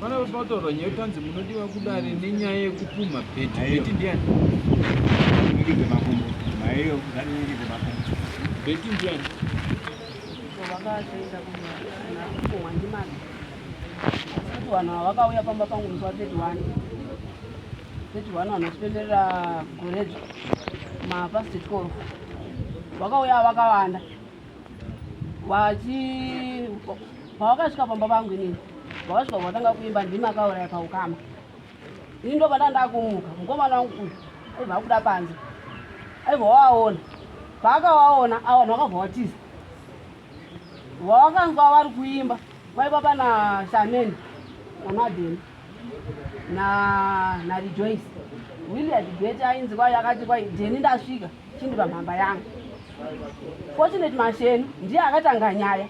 Vana vepataurwa nyaya tanzi munodiwa kudare nenyaya yekupumha bheti bheti ndiani ningidze makumbo maiyo nganingidze makumbo bheti ndiani vakaenda kunakukohwa ndimani kuti vanhu ava vakauya pamba pangu musi wa 31 31 vanhu vanotipenderera goredzo mapast 12 vakauya vakawanda vachi pavakasvika pamba vangu inini vakasvika vatanga kuimba ndimi akauraya paukama ini ndo panda ndakumuka mukomana wangu uyu aiva akuda panze aiva wawaona paakawaona avanhu vakabva watiza vawakanzwa vari kuimba vaiva pana shameni namadeni narijoyce williard bete ainzi kwai akati kwai jeni ndasvika chindi pamhamba yangu fortunate masheni ndiye akatanga nyaya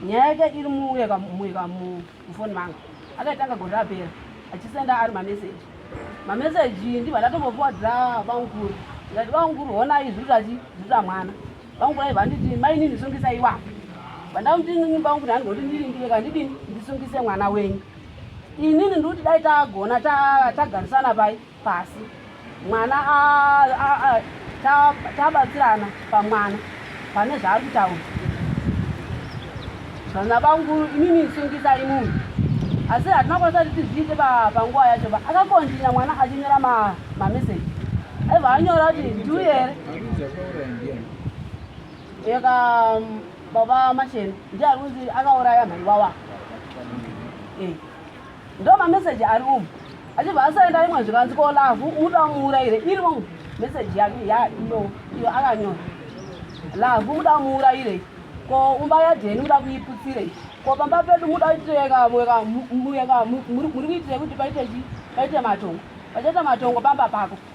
nyaya yake iri muweka muweka mufoni mangu akaitanga gore rapera achisenda ari mameseji mameseji ndibva ndatombopiwa dza vaunguru ndati vaunguru honai zviri zvati zviri zvamwana vaunguru aibva nditi mainini sungisa iwapo vandakuti inini vaunguru handingoti ndiringire ka ndidini ndisungise mwana wenyu inini ndikuti dai tagona tagarisana pai pasi mwana tabatsirana pamwana pane zvaari kutaura vana vangu inini sungisai munhu asi hatina kwanisa kuti tizviite panguva yacho ba akakontinya mwana achinyora mameseji aibva anyora kuti ndiuye here eka um, baba machena ndiye ari kunzi akauraya mhaiwawa eh. Ndo ma message ari umu. Achibva asaenda imwe zvikanzi ko love muda muuraire iri umu. Message yake ya ino iyo akanyora. Love muda muuraire ko umba ya Deni muda kuiputsire. Ko pamba pedu muda kuiteka mweka mweka muri kuitira kuti paite chi paite matongo. Pachaita matongo pamba pako.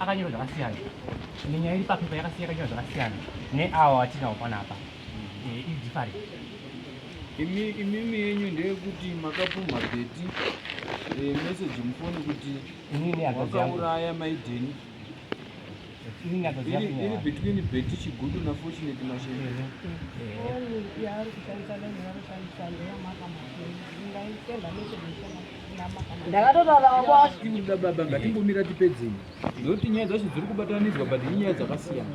akanyora zvakasiyana nenyaya iri papepa yakasiyana nyora zvakasiyana neawo atinawo panapa eh, iri different imi imimi yenyu ndeyekuti makapumha beti eh, message mufoni kuti wakauraya maidheni iri between beti chigudu nafortunate mashele ndakatotauraakuda baba ngatimbomira tipedzei nekuti nyaya dzacho dziri kubatanidzwa but inyaya dzakasiyana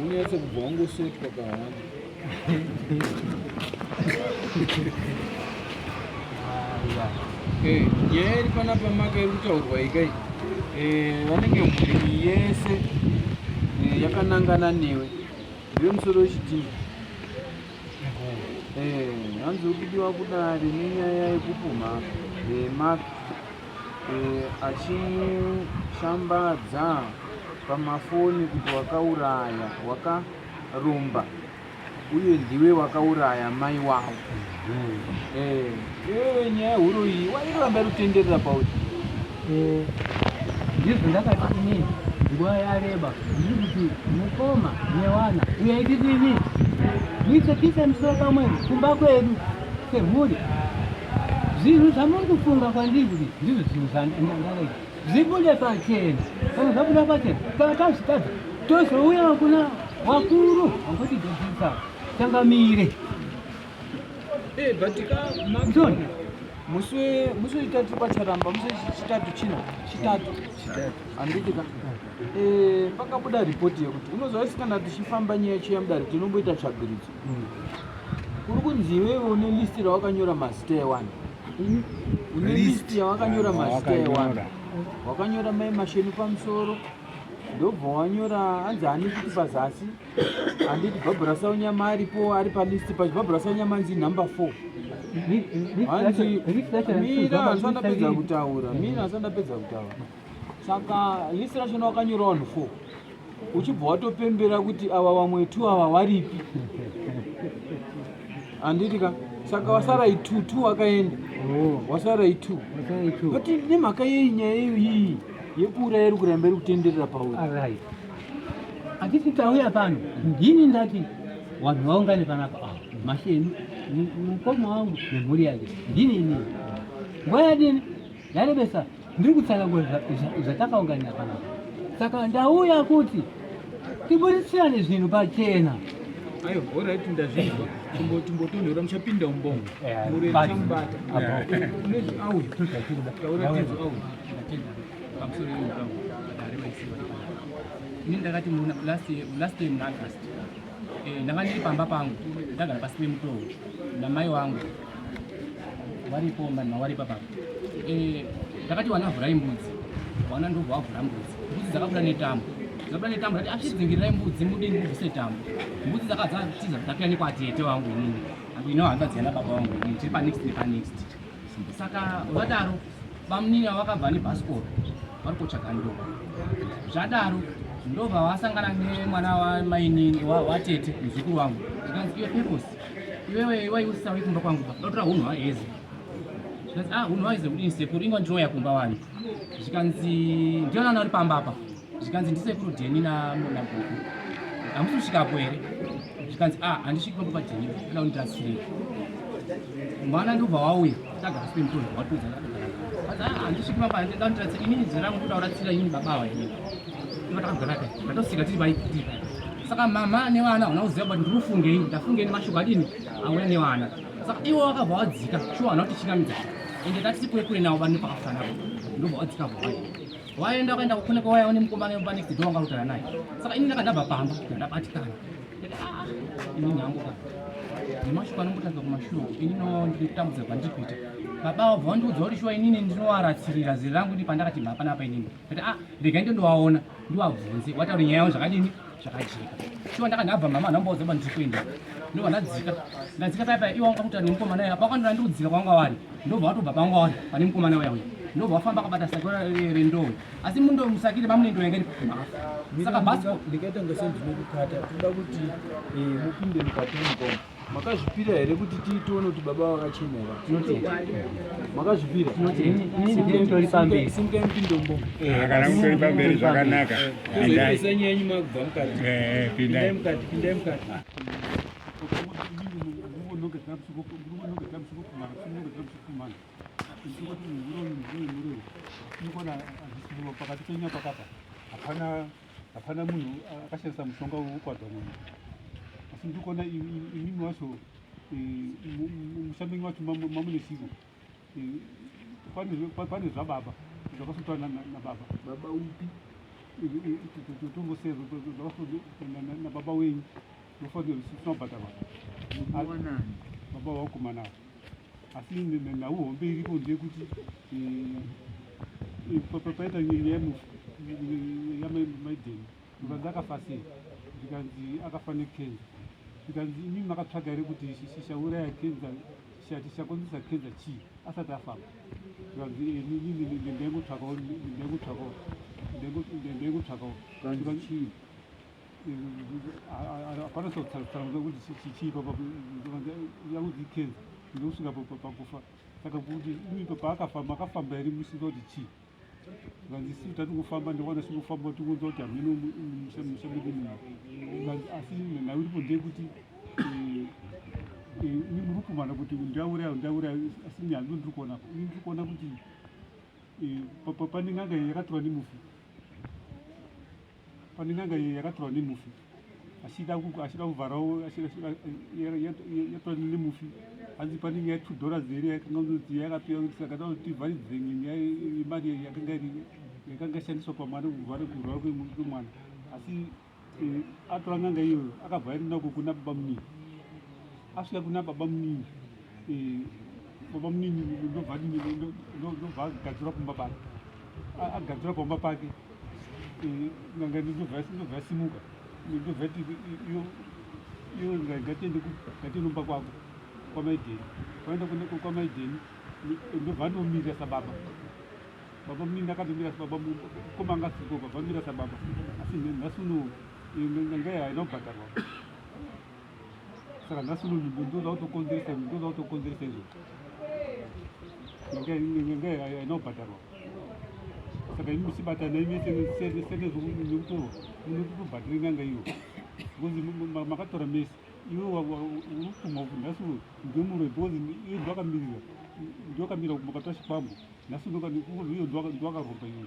Unyatse kubva wangosotwa kahana. Eh, nyaya iri panapa maka iri kutaurwa ikai eh, vanenge mhuri yese eh, yakanangana newe ndiwe musoro wechidii hanzi ukudiwa kudari nenyaya yekupumha maka achishambadza pamafoni kuti wakauraya wakaromba uye ndiwe wakauraya mai wavo mm. eh, eh, nyaya yehuro iyi wairamba rutenderera pauri eh, ndizvo ndakati ini nguva yareba ndiri kuti mukoma newana uyaititini muitse kisa misoro pamwe kumba kwedu Semhuri, zvinhu zvamuri kufunga kwandiri kuti ndizvo zvinhu zvandakaita zvibude pachena. Kana zvabuda pachena, takazvitadza tozouya kuna vakuru vanguti dzodzisa changamire. Eh, but ka John, musi musi wechitatu pacharamba musi wechitatu china chitatu handiti ka eh, pakabuda ripoti yekuti unoziva isikana tichifamba nyaya chiya mudare tinomboita tsvagiridzo Kuri kunzi iwewe une list rawakanyora mazita ewani hmm? une list yawakanyora mazita ewani wakanyora mai masheni pamusoro ndobva wanyora hanzi ani kuti pazasi handiti bhabhura saunyama aripo ari palist pacho bhabhura saunyama anzi number four hanzi mira hanzi andapedza kutaura mira hanzi andapedza kutaura saka list racho nowakanyora wanhu four uchibva watopembera kuti ava vamwe two ava varipi handiti ka saka wasara itu two wakaenda oh. wasara itu but nemhaka yei nyaya iyo iyi yekuuraya iri kuramba iri kutenderera pauri handiti tauya pano ndini ndati vanhu vaungane panapa ava masheni mukoma wangu nemhuri yake ndini ini nguva yadini yarebesa Ndiri kutsanga zvatakaunganira panapa, saka ndauya kuti tiburisirane zvinhu pachena. Ayo, alright ndazvinzwa. Tumbo tumbo tonhora muchapinda umbongo. Mure chamubata. Unezi awe. Taura tezo awe. Pamusoro yemutambo. Dare maisiwa. Ini ndakati muna last last time na August. Eh, ndanga ndiri pamba pangu. Ndagara pasi pemutowo. Namai wangu. waripo mani mawaripa baba eh, ndakati wana vhurai mbudzi wana ndobva wavhura mbudzi mbudzi dzakabuda netambo dzakabuda netambo ndati achidzingirai mbudzi mudini kubvise tambo mbudzi dzakadzatiza dzapira nekwatete wangu inini angu ino hanza dziana baba wangu inini tiri panext nepanext saka vadaro bamunini vakabva nebhasikoro vari kutsvaga ndoba zvadaro ndobva vasangana nemwana wamainini watete muzukuru wangu zvikanzi iwe peposi Iwewe iwa iusa uri kumba kwangu ndotora hunhu hwaeze zvikanzi ah hunhu hwaeze kudini sekuru inga ndinouya kumba wani zvikanzi ndionana uri pamba apa zvikanzi ndisekuru dheni namona guku hamusi kusvikapo here zvikanzi ah handisviki pambo padheni kana undirasirei mwana ndobva wauya tagara sipemutoa watiudza handisviki pamba handida undirasira inini zera mukuda uratsira inini baba waenei saka mama nevana hauna kuziva kuti ndiri kufungei ndafungei nemashoko adini auya nevana saka iwo vakabva vadzika shuwa hauna kuti chingamidza ende tati kure kure navo vanhu pakafana ndobva vadzika vhai waenda wakaenda kukune kwawaya une mukomana wemba next door wanga kutara naye saka ini ndakadabva pamba ndabatikana ah, ini nyangu ka nemashoko anombotanga kumashuwa ini no ndiri kutambudza kwandiri kuita baba vabva vandiudza kuti shuwa inini ndinowaratsirira ziri rangu ndi pandakati mhapana apa inini kuti ah rega ndo ndowaona ndiwabvunze wataura nyaya yavo zvakadini zvakajeka shuwa ndaka ndabva mama anhu ambaudza kuba ndikuenda ndobva ndadzika ndadzika paya paya iwa wanga kutaura nemukomana uya pakwandira ndiri kudzika kwanga wari ndobva watobva panga wari pane mukomana uya uya ndobva wafamba akabata sako rendowo asi mundo musakire mamune ndo yanga ndikumafa saka bhasikoo ndikaita ngasendinokukata toda kuti eh, mupinde mukati mukoma makazvipira here kuti tiitoone kuti baba vakachenera makazvipirasimkaimupindomboakanautoripaamberi zvakanaka enyu makubva mukatipindai mukati pindai mukati pakati penyu pakapa hapana hapana munhu akashandisa mushonga wekukwadza munhu asi ndikuona imimi wacho mushambengi wacho mamune siko pane zvababa zvakasotwa nababa baba upi tongoseva nababa wenyu ndofanira kuti tinobhadhara baba wakomana ava asi nhau hombe iripo ndeyekuti eh, paita nyaya yamaideni zvikanzi akafa sei zvikanzi akafa nekenza zvikanzi imi makatsvaga here kuti shishauraya kenza shati chakonzesa kenza chii asati afamba zvikanzi eh, ndingotsvakawo ndingotsvakawo ndingotsvakawo hapana tsanangudzo kuti chii yakuti ikenza ndokusvika pakufa saka kuti paakafamba akafamba iri musika kuti chii vanzisi tati kufamba ndikwana sikufamba tikunzwa kuti hameno musha medu muno asi nhau iripo ndeyekuti eh, eh, ini muri kumana kuti ndauraya ndauraya asi nyaya ndo ndiri kuona ini ndiri kuona kuti eh, pane n'anga yakatora nemufi Pane n'anga yakatorwa nemufi achida achida kuvharawo yatorwa nemufi hanzi pane nyaya two dollars here yakanga kuti yakapiwa kuti saka takuti tivharidzire nyaya yemari yakanga yakanga shandiswa pamwana kuvhara kurwara kwemwana asi eh, atora n'anga iyoyo akabva aenda nako kuna baba muningi asvika kuna baba muningi eh, baba munini ndobva ndobva agadzura kumba pake agadzura pamba pake n'anga ndobva yasimuka ndobva ti iyo ngatiende ngationomba kwako kwamaidheni kwaenda kuneko kwamaidheni ndobva anomira sababa baba munini akatomira sababa koma angasiko baba amira sababa asi nhasi uno nganga haina kubhadharwa saka nhasi uno nyimbo ndinoda kutokonzeresa ndinoda kutokonzeresa izvo nyanga inobhadharwa saka imi musibatana imi senezvekutorwa munotobhadhira nyanga iyo because makatora mese iwe urikutuma kuti nhasi uno ndimure because iyo ndivakamirira ndivakamirira kuti makatora chikwambo nhasi iyo ndivakaromba iyo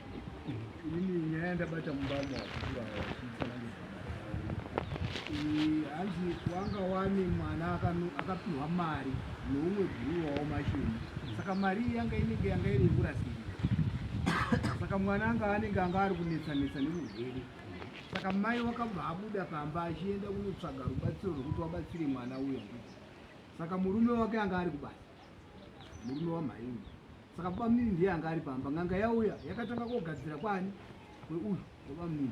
Ini nyaya yandabata mubamo wakukura hanzi wanga wane mwana akapihwa mari neumwe guru wawo mashoni saka mari iyi yanga inenge yanga iri yekurasiri saka mwana anga anenge anga ari kunetsanetsa nemurwere saka mai wakabva abuda pamba achienda kunotsvaga rubatsiro rwekuti wabatsire mwana uya saka murume wake anga ari kubasa murume wamhai uyu Saka bamnini ndiye anga ari pamba. N'anga yauya yakatanga kogadzira kwani kweuyu kwabamnini.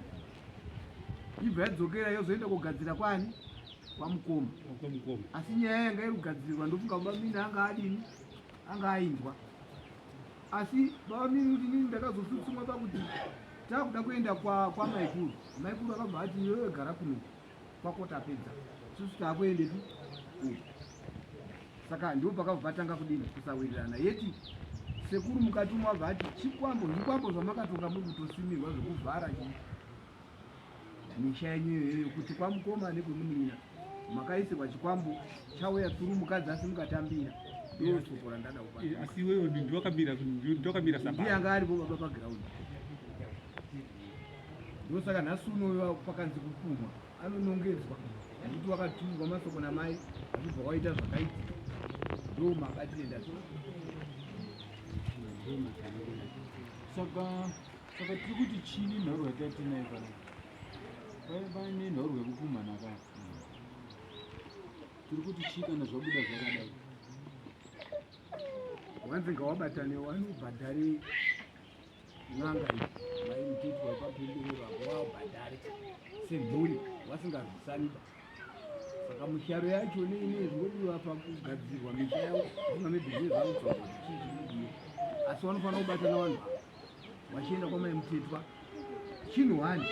Ibva yadzokera yozoenda kogadzira kwani kwamukoma. Kwamukoma. Asi nyaya yanga iri kugadzirwa ndofunga bamnini anga adini anga ainzwa. Asi bamnini kuti nini ndakazotsutsumwa pakuti takuda kuenda kwa kwamaikuru. Maikuru akabva ati yoyo gara kuno. kwako tapedza susu taakuendepi saka ndipo pakabvatanga kudini kusawirirana yeti sekuru mukati umwe abva ati chikwambo zvikwambo zvamakatonga muri kutosimirwa zvekuvhara misha yenyu iyoyo kuti kwamukoma nekwemunin'ina makaisirwa chikwambo chauya tsuru mukadzi asi mukatambira ndosoko randada kupa eh, asi iwewe ndiwakamira ndiwakamira sapa ndiye anga aripo baba pagiraundi ndosaka nhasi unoviva pakanzi kupumwa anonongedzwa nekuti wakatumigwa masoko namai achibva waita zvakaiti ndo makatienda saka saka tiri kuti chini nhorwa yatatinai kana paine nhorwa yekupumhana ka tiri kuti chii kana zvabuda zvakadai wanzi ngawabatane wanobhadhari N'anga vaimutitwa kwapinduru vako waubhadhare semhuri wasingazvisanida saka musharo yacho neine zvinodiwa pakugadzirwa misha yavo zvinga mebhizinesi avo tsvaga zvichii zvinodiwa asi vanofanira kubatana vanhu ava vachienda kwamaimutitwa chinhu wani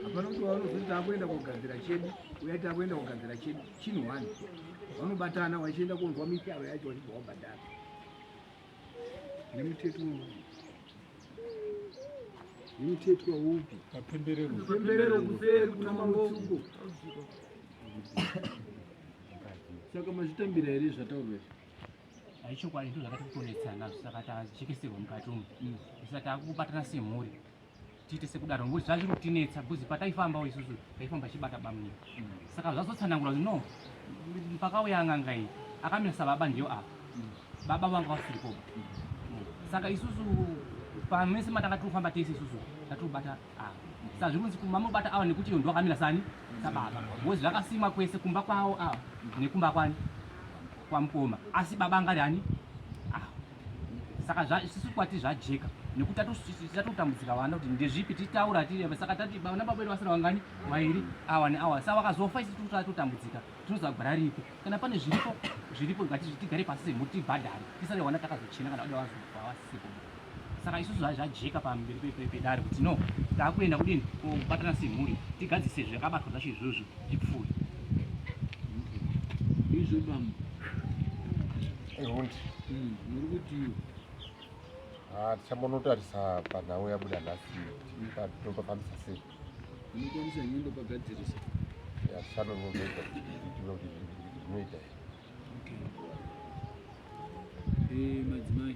hapana kuti vanozoti takuenda kogadzira chedu uya takuenda kogadzira chedu chinhu wani vanobatana vachienda konzwa misharo yacho vachibva wabhadhara Nemutetwa upi? Nemutetwa upi? Mapemberero. Mapemberero kuseri kuna Mambofuko. Saka mazvitambira here zvataurwa izvi? Haichokwadi ndizvo zvakati kutonetsana saka tazvichekeserwa mukati umu. Saka takubatana semhuri. tiite sekudaro ngokuti zvazviri kutinetsa bcause pataifambawo isusu taifamba chibata bamnini mm. saka zvazotsanangura kuti no pakauya n'anga iyi akamira sababa ndiyo apa mm. baba vanga vasiri koba mm. saka isusu pamese matanga tiri kufamba tese isusu tatiri kubata ava saka zviri kunzi mamobata awa nekuti iyo ndiwakamira sani sababa bcause zvakasimwa kwese kumba kwawo awa nekumba kwani kwamukoma asi baba angari ani saka zvisusu kwati zvajeka nekuti tatotambudzika vana kuti ndezvipi titaura tiri saka tati vana baba vedu vasina vangani vairi awa neawa sa vakazofa isi tatotambudzika tinoziva gwara ripi kana pane zviripo zviripo tigare pasi semhuri tibhadhare tisare vana takazochena kana vada vazofa vasisipo saka isusu zvajeka pamberi pedare kuti no takuenda kudini kobatana semhuri tigadzise zvakabatwa zvacho izvozvo zvipfuuri izvo bamba Ihundi. Mm, muri kutii? Ah, tichambonotarisa panhau yabuda nhasi topafambisa sei. Unokwanisa nyendo pagadzirisa. Ya shano ngombe kuti zvinoita. Okay. Eh, madzimai.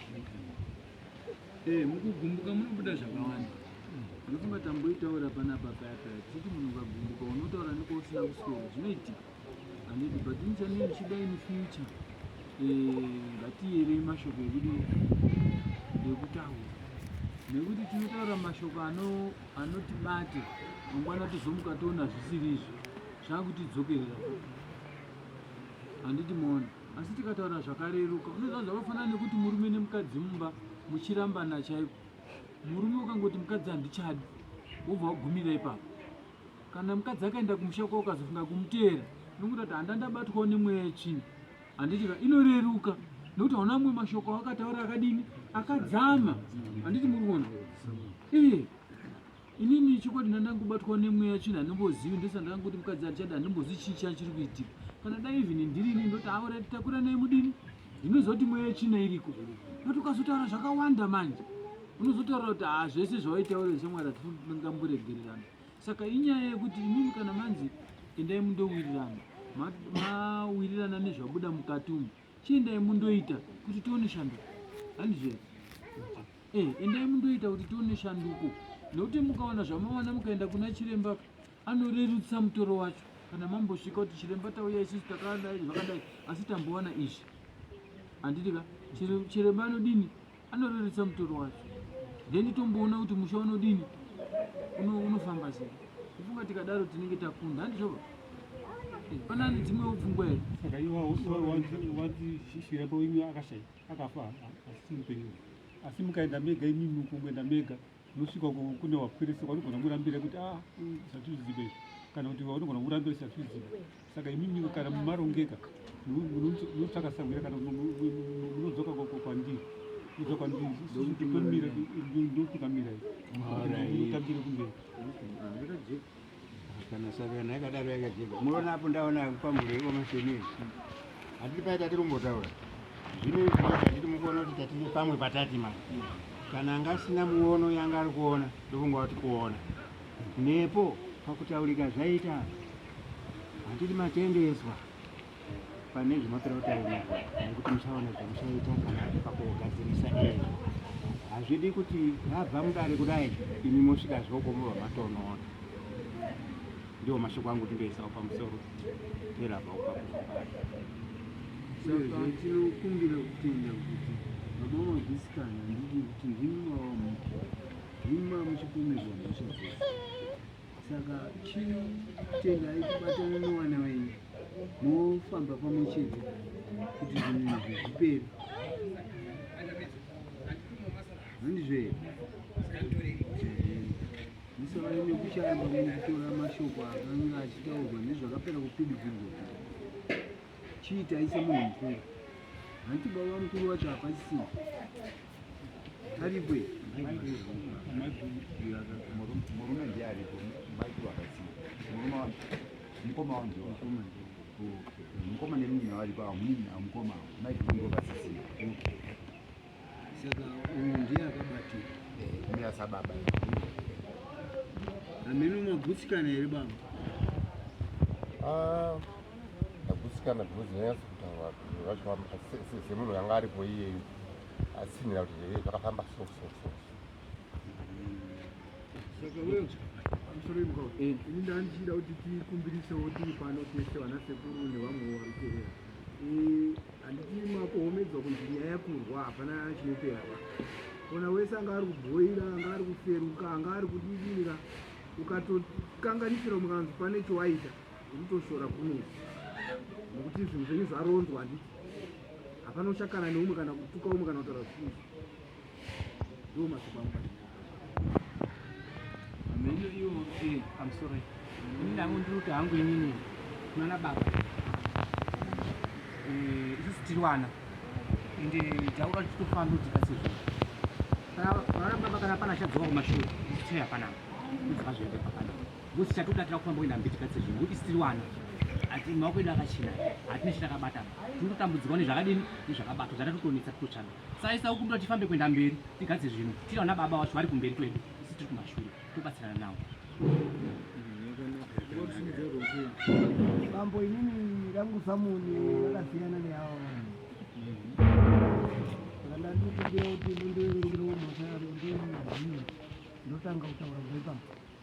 Eh, mukugumbuka munobuda zvakawanda ndofunga tamboitaura panapa paya paya tichiti munhu ukagumbuka unotaura neko usina kuswera zvinoitika anditi but nichanei ndichida in future eh, ngatiyerei mashoko ekudi ekutaura nekuti tinotaura mashoko anotibate mangwana tizomuka toona zvisiri izvo zvakutidzokerera handiti moona Asi tikataura zvakareruka, unoziva zvakafanana nekuti murume nemukadzi mumba muchirambana chaiko. Murume ukangoti mukadzi handichadi, wobva wagumira ipapo. Kana mukadzi akaenda kumusha kwavo ukazofunga kumuteera, unongoita kuti handa ndabatwawo nemweya yetsvina. Handiti ka inoreruka nekuti hauna amwe mashoko awakataura akadini akadzama. Handiti muri kuona? Iye. inini chokwadi ndandangobatwa nemweya china handimbozivi ndosaka ndakangoti mukadzi andichada handimbozivi chii chani chiri kuitika kana dai even ndiri ini ndoti aora takura nei mudini ndinozoti mweya china iriko but ukazotaura zvakawanda manje unozotaura kuti ha ah, zvese zvawaitaura zvemwari hatingamboregererana saka inyaya yekuti imimi kana manzi endai mundowirirana mawirirana nezvabuda mukati umu Chiendai mundoita kuti tione shanduko. Handizvo here? Eh, endai mundoita kuti tione shanduko. Nekuti mukawana zvamawana mukaenda kuna chiremba anorerutsa mutoro wacho. Kana mambosvika kuti chiremba tauya isusu takadai zvakadai asi tambowana izvi. Handiti ka? Chiremba anodini? anorerutsa mutoro wacho then tomboona kuti musha unodini unofamba sei kufunga tikadaro tinenge takunda handizvoba eh, pana ane dzimwewo pfungwa here saka iwawanzi shishiri yako imi akashai akafa asi mupenyu asi mukaenda mega imimi ukungoenda mega Unosvika uko kune wapwirisa kwaunogona kurambira kuti ah zvatizvizive izvi kana kuti waunogona kurambira zvatizvizive. Saka imimi kana mumarongeka munotsvaka sangwira kana munodzoka kwandiri kudzoka kwandiri ndokutungamira kutambira kumberi kana savana yakadaro yakajeka muona apo ndaona kwamuri omasheni hatiri paye tatiri kumbotaura zvino izviatiri mukuona kuti tatiri pamwe patati mani kana anga asina muono yanga ari kuona ndofunga kuti kuona nepo pakutaurika zvaita hatiri matendeswa pane zvinopera kutaura nekuti muchaona zvamuchaita kana pakugadzirisa izvo hazvidi kuti vabva mudare kudai imi mosvika zvokomova matonoona ndiwo mashoko angu kuti ndoisawo pamusoro perabva upakuzoatinokumbira kutenda kuti baba magusikana ndidi kuti ndimwawa muti ndimwa muchipomerwa mhosva dzese saka chino tengai kubatana newana wenyu mofamba pamwe chete kuti zvinhu izvi zvipere handizve musavane nekuchayamba mukutora mashoko akanga achitaurwa nezvakapera kupindidzirwa chiitai semunhu mukuru hanti baba mukuru wacho hapasisii mukoma nemunina varipo amunina mukoma maikuvasisina saka uyu ndiye akabatika ndiye asababa amene magutsikana here baba ah, agutsikana because nyanyasi kutaura vacho semunhu yanga aripo iyeyu asinira kuti hee zvakafamba so so so saka wewe amusoremka eh. ini ndandichida kuti tikumbirisewo tiri pano tese vana sekuru nevamwe varikuera eh, handiti makohomedzwa kunzi nyaya yakurwa hapana chinopera va ona wese anga ari kubhoira anga ari kuferuka anga ari kudidira ukatokanganisira mukanzi pane chowaita unotoshora kunezi nokuti zvinhu zvenyu zvaronzwa handiti Hapana uchakana neumwe kana kutuka umwe kana kutaura zvisizvo. Ndiwo mashoko angu pachii. Mheno iyo eh, I'm sorry. Ini ndangu ndiri kuti hangu inini kunana baba. Eh, isusu tiri wana. Ende taura kuti tofamba kuti kasi zvo. Kana vana baba kana pana chadzoka kumashure, tiri hapana. Ndizvazvo ende hapana. Ngozi chatoda tira kufamba kuenda mbiti katse zvinhu ngokuti sitiri wana ati maoko edu akachena hatina chitakabatana tinototambudzirwa nezvakadini nezvakabatwa zvatatotonetsa titotsvaga saisa ukumbira tifambe kuenda mberi tigadze zvinhu tiri vana baba wacho vari kumberi kwedu isi tiri kumashure tobatsirana navo bambo inini rangu samoni rakasiyana neavo ndandikumbira kuti mundiverengerewo mhosva yaro ndotanga kutaura zvepapa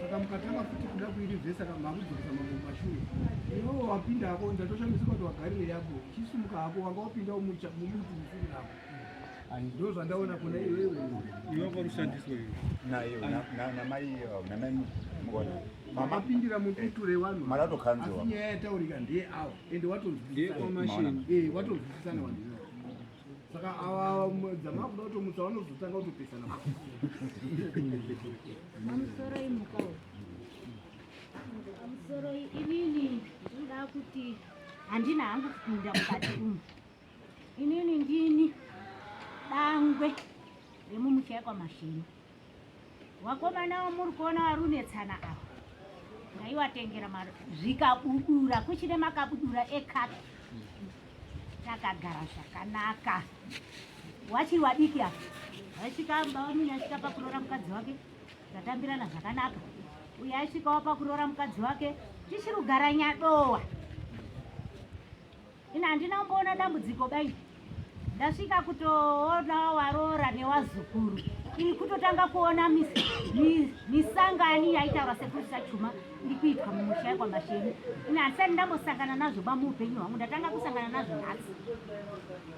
saka mukatanga futi kuda kuiri vhese saka makudzokesa mambo mashure iwewo wapinda hako ndatoshamisa kuti wagarire yako uchisumuka hako wanga wapinda umuti usiri nako ndo zvandaona kuna iwewe iwako rushandiswe nayo namai namai mukona mapindira mukuture wanu maratokanziwa asi nyaya yataurika ndeye awa ende watonzwisisana eh, watonzwisisana wandina saka ava dzama kuda kutomutsa vanozotanga kutopesana amusoroi mukao amusoroi inini ndinoda kuti handina hangu kupinda mukati umu inini ndini dangwe remumuchaya kwamashini Vakomana vamuri kuona vari kunetsana ava ndaivatengera mari zvikabudura kuchine makabudura ekaki takagara zvakanaka wachiri wadiki ava vaisvika bamunini asvika pakuroora mukadzi wake tatambirana zvakanaka uye aisvikawo pakuroora mukadzi wake tichiri kugara nyadowa Ini handina kumboona dambudziko bai ndasvika kutoona waroora newazukuru ini kutotanga kuona misangani yaitaura sekuru sachuma iri kuitwa mumusha yekwamasheni ini handisati ndambosangana nazvo ba muupenyu hwangu ndatanga kusangana nazvo nhasi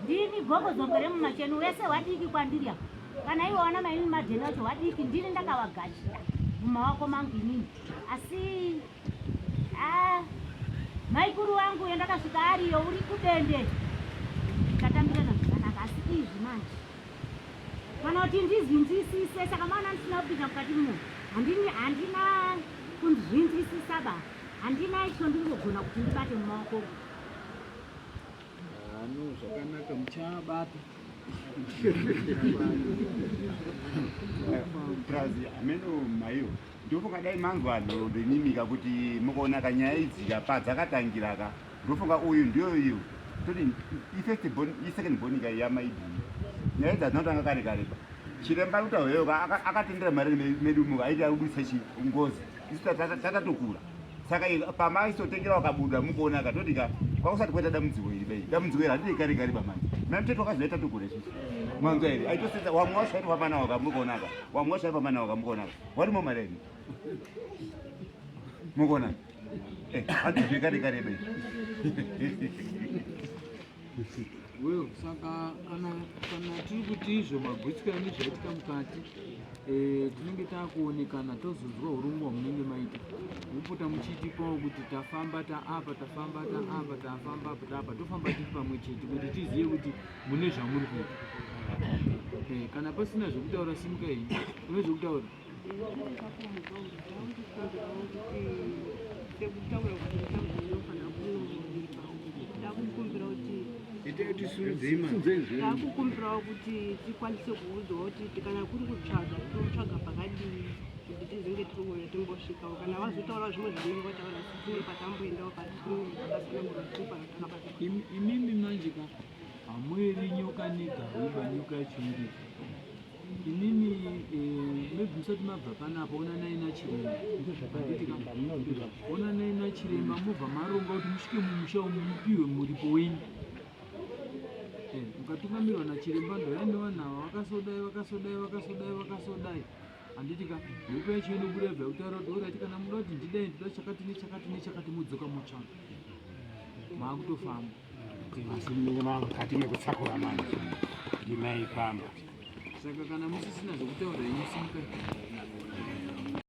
ndini gogo zombo remumasheni wese wadiki kwandiri apo kana iwe wana maimi madheni wacho wadiki ndini ndakawagashira mumawako mangu inini asi Ah, maikuru wangu yandakasvika ariyo uri kudende tatambirana zvakanaka asi izvi manje kana kuti ndizvinzwisise saka maona ndisina kupinda mukati muno handini handina kunzvinzwisisa ba handina icho ndingogona kuti ndibate mumaoko ano zvakanaka muchabata prazi ameno maiwo Ndofunga dai manzwa ndoimimika kuti mukaona kanyaya idzika padzakatangira ka ndofunga uyu ndiyo iyo toti ifirst born isecond born ka yamaidii nyaya idzi hadzinotanga kare kare pa chiremba ruta hoyo ka akatendera mari medu muka aiti akudisa chi ngozi isu tatatokura saka pamaisotengera wakabuda mukuona ka toti ka kwakusati kwaita dambudziko iri dai dambudziko iri handidei kare kare pamani mamtete wakazoita tokura isusu mwanzwa here aitosetsa wamwe washairi pamana wakamukuona ka wamwe washairi pamana wakamukuona ka What more my lady? Mugona. Eh, hadi jikari kari be. Well, saka kana kana tiri kuti izvo magwitsiko yange zvaitika mukati eh, tinenge takuonekana tozonzwa urongwa munenge maita mupota muchiitipawo kuti tafamba taapa tafamba taapa tafamba apa taapa tofamba tiri pamwe chete kuti tizive kuti mune zvamuri kuita eh, kana pasina zvekutaura simuka iyi une zvekutaura ndakukumbirawo kuti tikwanise kuudzwa kuti kana kuri kutsvaga totsvaga pakadii kuti tizenge tiriuya timbosvikawo kana vazotaura zvimwe zvavanenge vataura sitine patamboendawo patinepasina murotipaa Imimi manje ka hamweri nyoka negauba nyoka yachimiri imimi eh, maybe musati mabva panapa onanai nachiremba onanai nachiremba mobva maronga kuti musvike mumusha umu mupihwe muripo wenyu eh, mukatungamirwa nachiremba ndoyani vanavo vakasodai vakasodai vakasodai vakasodai handiti ka mhepo yacho inobuda yobva yakutaura kuti orati kana muda kuti ndidai ndida chakati nechakati nechakati mudzoka motsvaka maakutofamba asi mine mangu kati nekutsakura manje ndimai pamba saka kana musisina zvekutaura inyu simukai